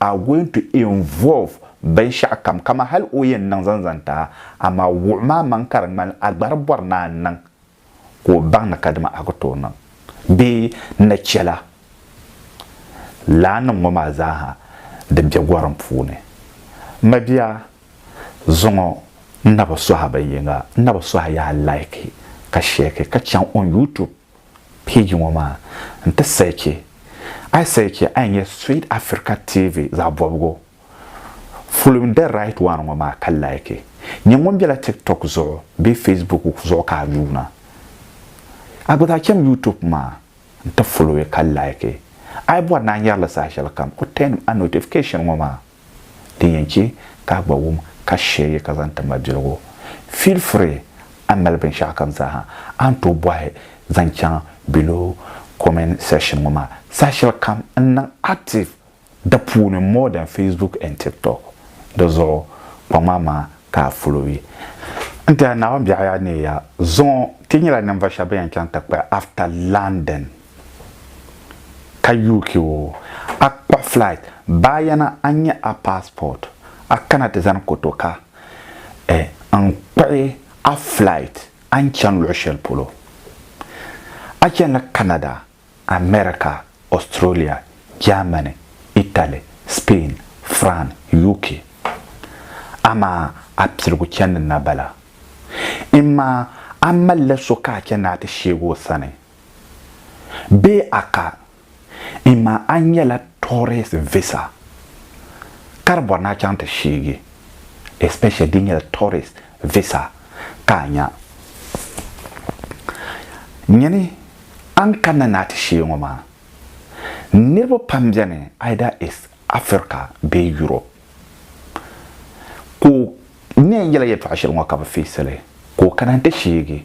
are going to involve binshɛɣu kam kaman hali o yɛn niŋ zaŋ zaŋ ti a, amaa wuɣi maa maŋ ka di ŋmani a gbari bɔri ni a niŋ ka o baŋ ni kadama a ku tooi niŋ bee ni chɛla laanim ŋɔ maa zaaha din be gorim puuni. M ma bia, zuŋɔ n na bi sɔhi a binyiŋa, n na bi sɔhi a yaha like ka share ka chaŋ on YouTube. Page ŋɔ maa n ti searchi a yi searchi a yi nya Sweet Africa TV zaɣ bɔbigu following the right one ŋɔ maa ka like nyɛ ŋun bela TikTok zuɣu bee Facebook zuɣu ka a yuuna a gba zaa cham YouTube maa n ti follow ka like a yi bɔri ni a nyari li saha shɛlikam o turn a notification ŋɔ maa. Din yɛn chɛ ka a gba wum ka shiri ya ka zaŋ ti mabiligu, feel free, a ni mali binshɛɣu kam zaaha a ni tooi bɔhi zaŋ chaŋ below comment section ŋɔ maa. Saha shɛli kam n niŋ active di puuni more than Facebook and TikTok. Di zuɣu kpaŋ maa maa ka a followi. N tɛha Naawuni biɛɣu yaa neei ya zuŋɔ. Ti nyɛla ninvuɣ shɛba bɛn yɛn chaŋ ti kpuɣi after landing. ka UK o, a kpuɣi flight baa yana a nya a passport a kana ti zani kotoka eh n kpuɣi a flight a ni chani luɣi shɛli polo. A chanila Canada, America, Australia, Germany, Italy, Spain, France, UK. Amaa a piligu chani na bala. Imaa a malila so ka a chani ni a ti sheegi o sani. Bee a ka n ma a nyɛla tourist visa ka di bɔri ni a chaŋ ti sheegi especially di nyɛla tourist visa ka a nya. Nyini a ni kanna ni a ti sheei ŋɔ maa niriba pam beni either is Africa bee Europe ka o ni yɛn yela yɛltɔɣa shɛli ŋɔ ka bɛ feesili ka o kana n-ti sheegi.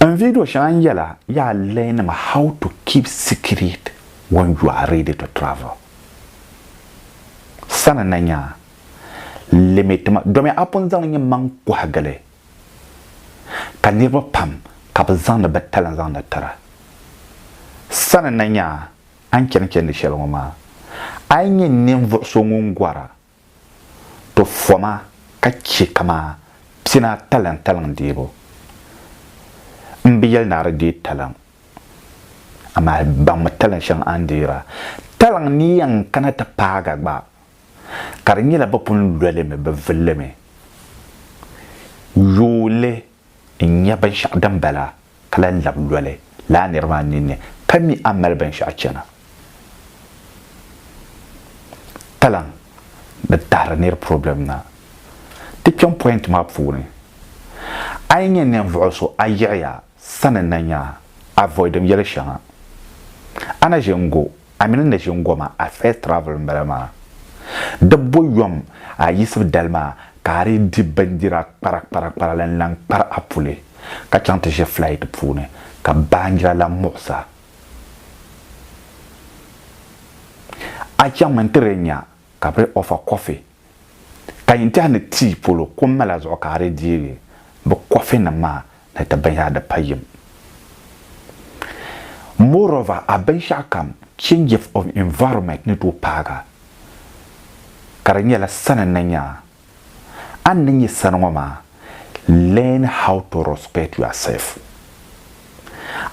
N video shɛŋa n yɛla yaa learning how to keep secret when you are ready to travel. Sani na nya limit ma domi a pun zaŋ nyimmaŋ kɔhigili ka niriba pam ka bɛ zaŋdi bɛ talent zaŋdi tira. Sani na nya a ni chani chandi shɛli ŋɔ maa, a yi nya ninvuɣ so ŋun gɔra to foma ka chɛ kamaa pina talaŋ talaŋ deebu. M bi yɛli ni a di deei talaŋ, amaa baŋmi talaŋ shɛŋa a ni deeri a. Talaŋ ni yɛn kana ti paag a gba, ka di nyɛla bɛ pun lolimi, bɛ vilimi. Yooli n nya binshɛɣu din bala a, ka lan lab loli lala nir maa ninni, ka mi a ni mali binshɛɣu chana. Talaŋ ni tahiri nir problem na. Ti kpiɔŋ point maa puuni, a yi nya ninvuɣu so a yiɣi ya sani na nya a avoid-im yɛli shɛŋa. A na ʒe n-go A mini n ni ʒini goma a first travel n bala maa. Di bo yom a yiɣisibu dali maa ka a dii di bindira kpara kpara kpara la n lan kpari a puli ka chaŋ ti ʒe flight puuni ka baanjira lan muɣis a. A chaŋmi n ti lee nya ka bɛ lee offer coffee. Ka yin tɛha ni tii polo ko mala zuɣu ka a di deegi bɛ kɔfinim maa ni ti binyɛra di pa yim. Moreover, a binshɛɣu kam changes of environment ni tooi paaga ka di nyɛla sani ni nya a. A ni nyɛ sani ŋɔ maa, learn how to respect yourself.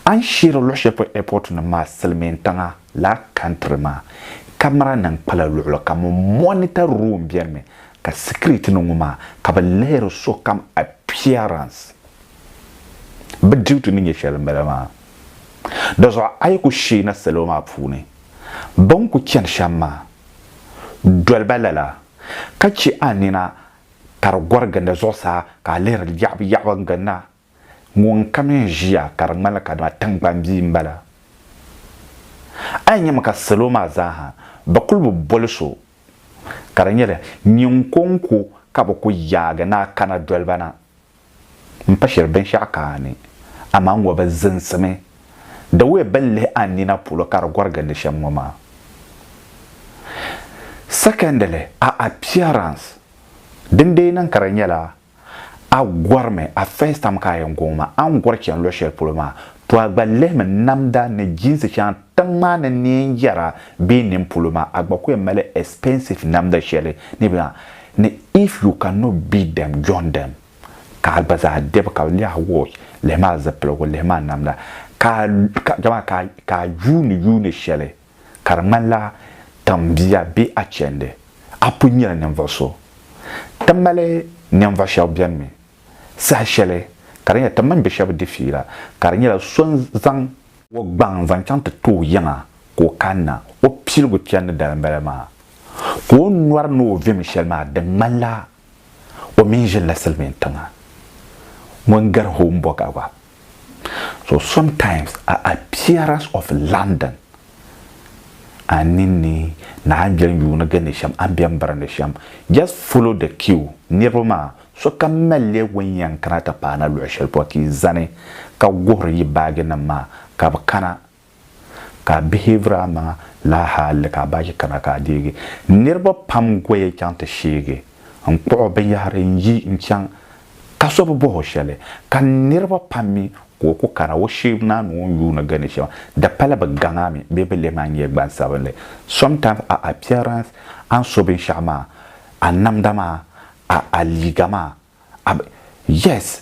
A ni sheeri luɣ shɛli polo airportnim maa silimiintiŋa. La country maa camera nim kpala luɣili kam n monitor room beni mi ka security ni ŋɔ maa ka bi lihiri so kam appearance bi duty ni nyɛ shɛli n bala maa dozɔ a yi ku shee na salo maa puuni bin ku chani shɛm maa doliba lala ka che a nina ka di gori ginda zuɣusaa ka a lihiri yaɣibu yaɣibu n ginda Ŋunkam n ʒiya ka di ŋmanila kadama tiŋgbani bia n bala. A yi nyɛmi ka salo maa zaaha bɛ kuli bi boli so ka di nyɛla nyinkonko ka bɛ ku yaagi ni a kana doliba na m pa shiri binshɛɣu ka a ni, amaa ŋɔ bi ziŋsimi the way bɛ ni lihi a nina polo ka di gɔri gindi shɛm ŋɔ maa. Secondly, a appearance din deei niŋ ka di nyɛla A gɔrimi, a first time ka a yɛn gɔŋ maa, a ni gɔri chani luɣ shɛli polo maa, tɔ a gba lihimi namda ni jinsi shɛŋa tiŋ maa ni ni yɛn yɛra bee nini polo maa, a gba ku yɛn mali expensive namda shɛli ni bɛ zaŋ ni if you can not beat them, join them. Ka a gba zaa dɛbi ka lihi a watch, lihimi a zipiligu, lihimi a namda, ka a, ka, jama, ka a, ka a yuuni yuuni shɛli. ka di ŋmanila tiŋ bia bee a chɛndi a pun nyɛla ninvuɣ so. Ti mali ninvuɣ shɛba bɛn mi saha shɛli ka di nyɛla ti mini bɛ shɛba di fiila ka di nyɛla so n-zaŋ o gbaŋ zaŋ chaŋ ti ti o yiŋa ka o kanna o piligu chɛndi dalim bala maa ka o nyɔri ni o vim shɛli maa di ŋmanila o mi ʒinila silimiin tiŋa ŋun gari Homburg gba. So sometimes a appearance of London a ninni ni a ni beni yuuni gindi shɛm a ni beni birindi shɛm just follow the cue niriba maa sokam malliya wen yɛn kana ti paana luɣi shɛli polo ka yi zani ka guhiri yi baaginima maa ka bɛ kana ka a behave a maŋa laa hali ka a baaji kana ka a deegi. Niriba pam goya chaŋ ti sheegi n kpuɣi o binyahiri n yi n chaŋ ka so bi bohi o sheli ka niriba pam mi ka o ku kana o sheebu naa ni o ni yuuni gani shema di pala bi gaŋ a mi bee bi lem a n nyɛ gbansabinli. Sometimes a appearance a ni so binshaɣu maa, a namda maa, a a liiga maa, Am, yes,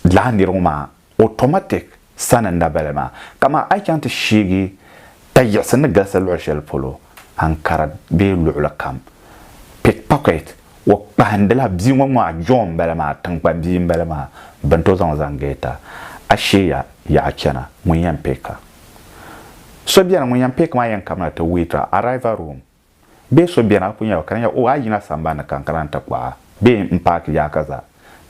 lala nir ŋɔ maa automatic sani n na bala maa. Kaman a yi chaŋ ti sheegi ta yiɣisi ni galisi luɣ shɛli polo, Ankara bee luɣili kam, pickpocket, o kpahindila bia ŋɔ ŋɔ a John n bala maa, tiŋkpan bia n bala maa, bɛn tooi zaŋ o zaŋ geeta. A sheeya yaɣa chana, ŋun yɛn pick a? So beni ŋun yɛn pick maa yɛn kabina ti wait a arrival room. Bee so beni a ku nya ba ka di nya, Oh, a yina sambani ni ka n kana nti kpuɣi a? Bee m paaki yaɣa ka zaa?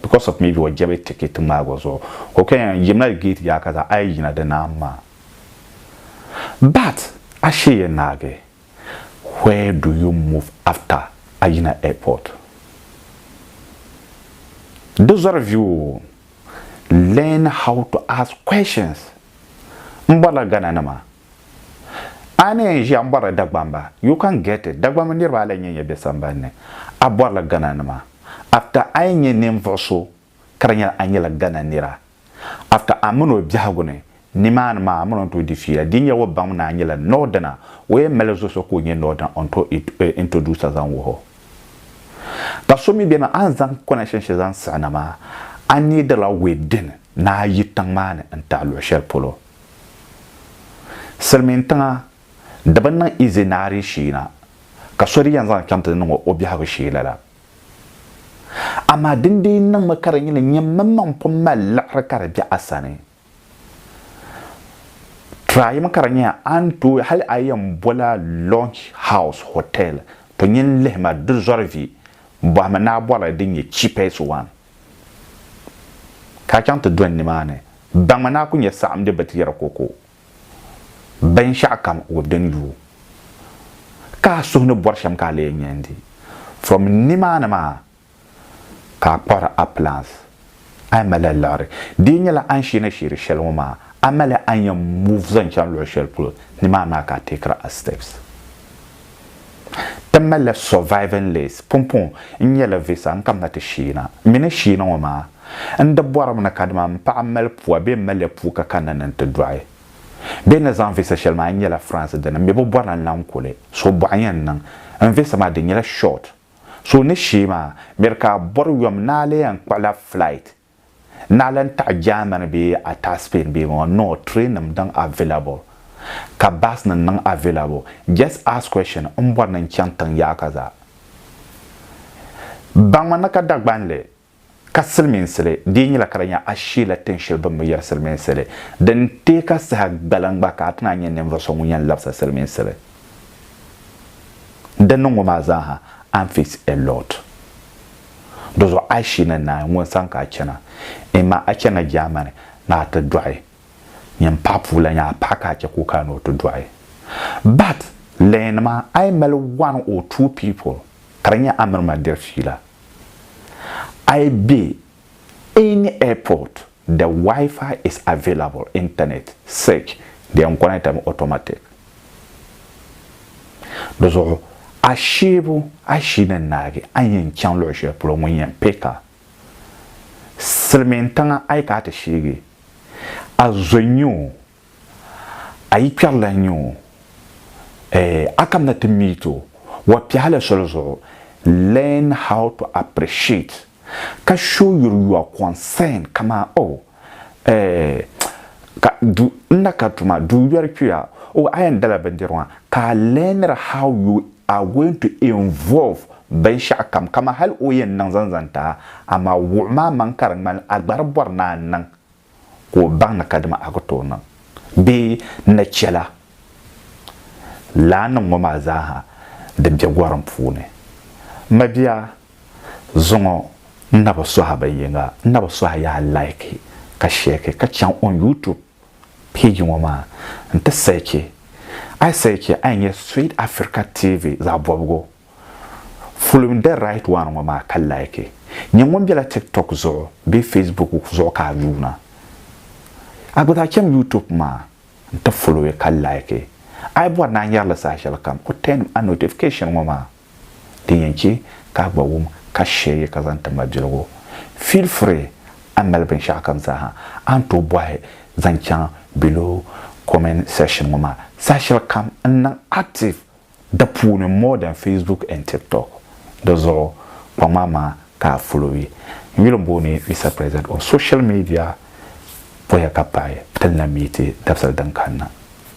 Because of maybe o jɛbi ticket ŋmaagi o zuɣu ka o kanya n yimina gate yaɣa ka zaa, a yi yina di naan maa. But a sheeya naagi, where do you move after a yina airport? Di zɔri viu o learn how to ask questions. M bɔrila Ghana nima. A ni yɛn ʒiya m-bɔrila Dagbamba, you can get it, Dagbamba niriba a lahi nyɛ ya bɛ sambani ni, a bɔrila Ghana nima, after a yɛn nyɛ ninvuɣ so ka di nyɛla a nyɛla Ghana nira, after a min o biɛhigu ni nimaani maa a min o ni tooi di fiila, di nyɛla o baŋmi ni a nyɛla Northerner, o yɛn mali zuɣu so ka o nyɛ Northerner o ni tooi introduce a zaŋ wuhi o. Ka so mi beni a ni zaŋ connection shɛli zaŋ siɣi na maa, a needirila within ni a yi tiŋ maa ni n-tahi luɣ shɛli polo. Silimiin tiŋa di bi niŋ easy naari shee na ka so di yɛn zaŋ chaŋ ti niŋ o biɛhigu shee lala. Amaa din dii niŋmi ka di nyɛla nyini mini maŋ pun mali liɣiri ka di be a sani. Tryimi ka di nyɛya a ni tooi hali a yɛn bola Launch House Hotel to nyin lihima di zɔri vi bɔhimi ni a bɔrila din nyɛ cheapest one. ka a chaŋ ti dɔni nimaani, baŋmi ni a ku nya saɣim di batiɛri koko binshɛɣukam ŋubbu din lu o, ka a suhu ni bɔri shɛm ka a lee nya n-di. From nimaani maa ka a kpuɣiri a plans. A yi malila liɣiri, di yi nyɛla a ni sheena sheeri shɛli ŋɔ maa, a malila a ni yɛn move zaŋ chaŋ luɣ shɛli polo, nimaani maa ka a teekiri a steps. Ti malila surviving list pumpɔŋ n-nyɛla visa n-kamina ti Shiina. Mi ni Shiina ŋɔ maa, n di bɔrimi ni kadama m paɣa mali pua bee m maliya puu ka kanna ni nti dɔɣi. Bɛ ni zaŋ visa shɛli maa n-nyɛla France dini mi bi bɔrila n-lahi kuli, so bɔɣu yɛn niŋ. N visa maa di nyɛla short. So ni shii maa, mi di ka a bɔri yom ni a lee yɛn kpuɣila flight Naa lan taɣi Germany bee a taɣi Spain bee ŋɔ no train nim diŋ available ka bus nim niŋ available just ask question n bɔri ni n chaŋ tiŋ yaɣa ka zaa baŋmi ni ka Dagbanli ka silimiinsili dii nyɛla ka di nya a sheela tiŋ shɛli bini bi yɛri silimiinsili din teei ka saha gbaliŋ gba ka a ti naan nyɛ ninvuɣu so ŋun yɛn labisa silimiinsili din niŋ ŋɔ maa zaa ha and face a lot. Dɔzuɣu a shi ni naai ŋun san ka a chana, imaa a chana Jaamani ni a ti dɔɣi nyin paɣa puu la nyaa paɣa ka a chɛ ka o kana ni o ti dɔɣi. But, lɛɛn maa a yi mali one or two people ka di nyɛ a mini ma diri fiila, a yi be any airport The Wi-Fi is available internet search the enconnecta mi automatic di zuɣu a sheebu a ʒi ni naagi a ni yɛn chaŋ luɣu shɛli polo ŋun yɛn pay ka silimiin tiŋa a yi ka a ti sheegi a zo nyɛ o A yi kpɛri la n-nyɛ o, eh, a kamina ti meet o, wa piɛhi la soli zuɣu, learn how to appreciate, ka show your your concern kaman, oh, eh, ka du n na kari tuma, du yɔri kpɛya, oh, a yɛn dala bindirigu maa, ka a learnir how you are going to involve binshɛɣu kam, kaman hali o yɛn niŋ zaŋ zaŋ ti a, amaa wuɣi ma a maŋ ka di ŋmani a gba di bɔri ni a niŋ ka o baŋ ni kadama a ku tooi niŋ bee n na chɛ la lala ni ŋɔ maa zaaha din be gorim puuni. M mabia, zuŋɔ n na bi sɔhi bin yiŋa, n na bi sɔhi yaa laiki ka shɛki ka chaŋ on YouTube page ŋɔ maa nti sɛchi. A yi sɛchi a ni nya Sweet Africa TV zaɣ bɔbigu. Fulim the right one ŋɔ maa ka like. Nyɛ ŋun bela tiktok zuɣu bee facebook zuɣu ka a yuuna. A gba daa chaŋ youtube maa n ti follow ka like. A yi bɔri ni a nyari li saha shɛli kam o turn a notification ŋɔ maa din yɛn che ka a gba wum ka share yi ka zaŋ ti mabiligu. Feel free a ni mali binshɛɣu kam zaaha a ni tooi bɔhi zaŋ chaŋ below comment section ŋɔ maa saha shɛli kam n niŋ active di puuni more than Facebook and TikTok di zuɣu kpaŋ maa maa ka a folowi n yuli booni Mister President on social media oya ka paai ti ni na meeti dabisili din kanna.